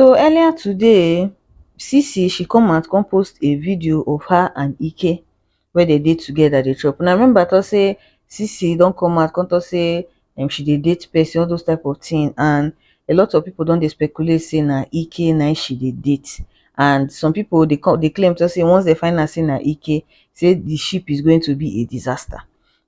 so earlier today um sisi she come out come post a video of her and ike wey dem dey together dey chop una remember talk say sisi don come out come talk say um she dey date person all those type of thing and a lot of people don dey speculate say na ike na im she dey date and some people dey come dey claim talk say once dem find out say na ike say the ship is going to be a disaster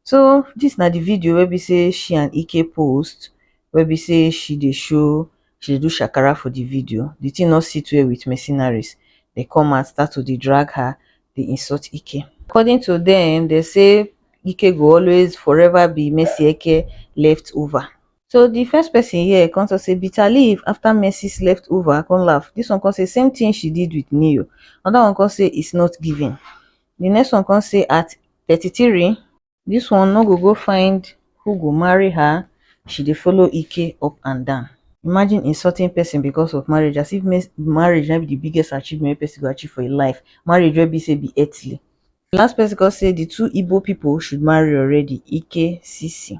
so this na the video wey be say she and ike post wey be say she dey show she dey do shakara for di video, di tin no sit well wit mercenaries, dem come out start to dey drag her, dey insult Ike. According to dem, dem say Ike go always forever be Mercy Eke left over. So di first pesin here come tok say bitter leaf afta Mercy's left over, I come laugh, dis one come say same tin she did wit Ne-Yo, anoda one come say it's not giving, di next one come say at thirty three, This one no go go find who go marry her, she dey follow Ike up and down. Imagine insulting person because of marriage as if marriage na be the biggest achievement wey person go achieve for im life, marriage wey be say be earthly. The last person come say the two Igbo people should marry already, Ike, Sisi.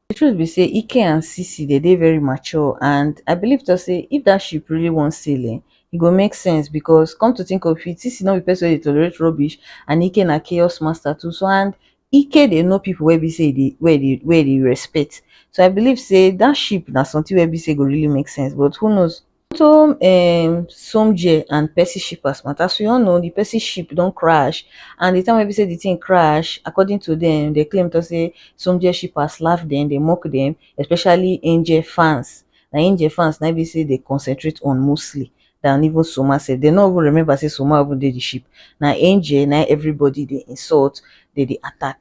The truth be say Ike and Sisi they dey very mature and I believe to say if that ship really wan sail eh, e go make sense because come to think of it Sisi no be person wey dey tolerate rubbish and Ike na chaos master too so and Ike dey know people wey be say e dey wey e dey wey e dey respect so I believe say that ship na something wey be say e go really make sense but who knows Tom um Somjee and Percy Shippers matter, as we all know di Percy ship don crash and di time wey be say di thing crash according to dem, dem claim talk say Somjee Shippers laugh dem, dem mock dem especially Angel fans, na Angel fans na im be say dem concentrate on mostly than even Soma sef, dem no even remember say Soma even dey di ship, na Angel na im everybody dey insult, dem dey attack.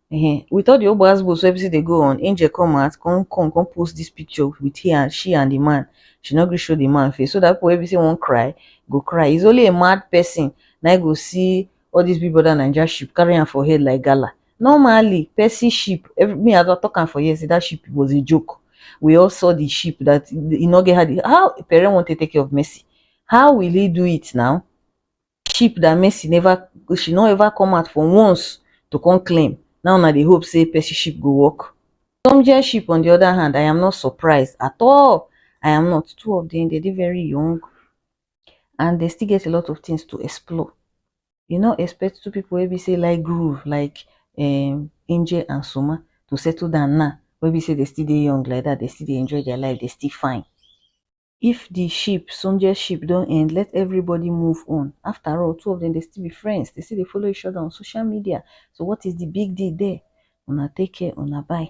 um with all the ogbo asbos wey bisi dey go on angel come out come come come post this picture with he and she and the man she no gree show the man face so that people wey be say wan cry go cry it's only a mad person na go see all this big brother naija ship carry am for head like gala normally person ship every me i don talk am for here say that ship was a joke we all saw the ship that e no get how the how pere wan take take care of mercy how will he do it now cheap than Mercy never she no ever come out for once to come claim now una dey hope say Percyship go work Tomjeship on the other hand I am not surprised at all I am not two of them they dey very young and they still get a lot of things to explore you no expect two people wey be say like groove like um, Angel and Soma to settle down now wey be say they still dey young like that they still dey enjoy their life they still fine if the ship soldier ship don end let everybody move on after all two of them dey still be friends they still dey follow each other on social media so what is the big deal there una take care una bye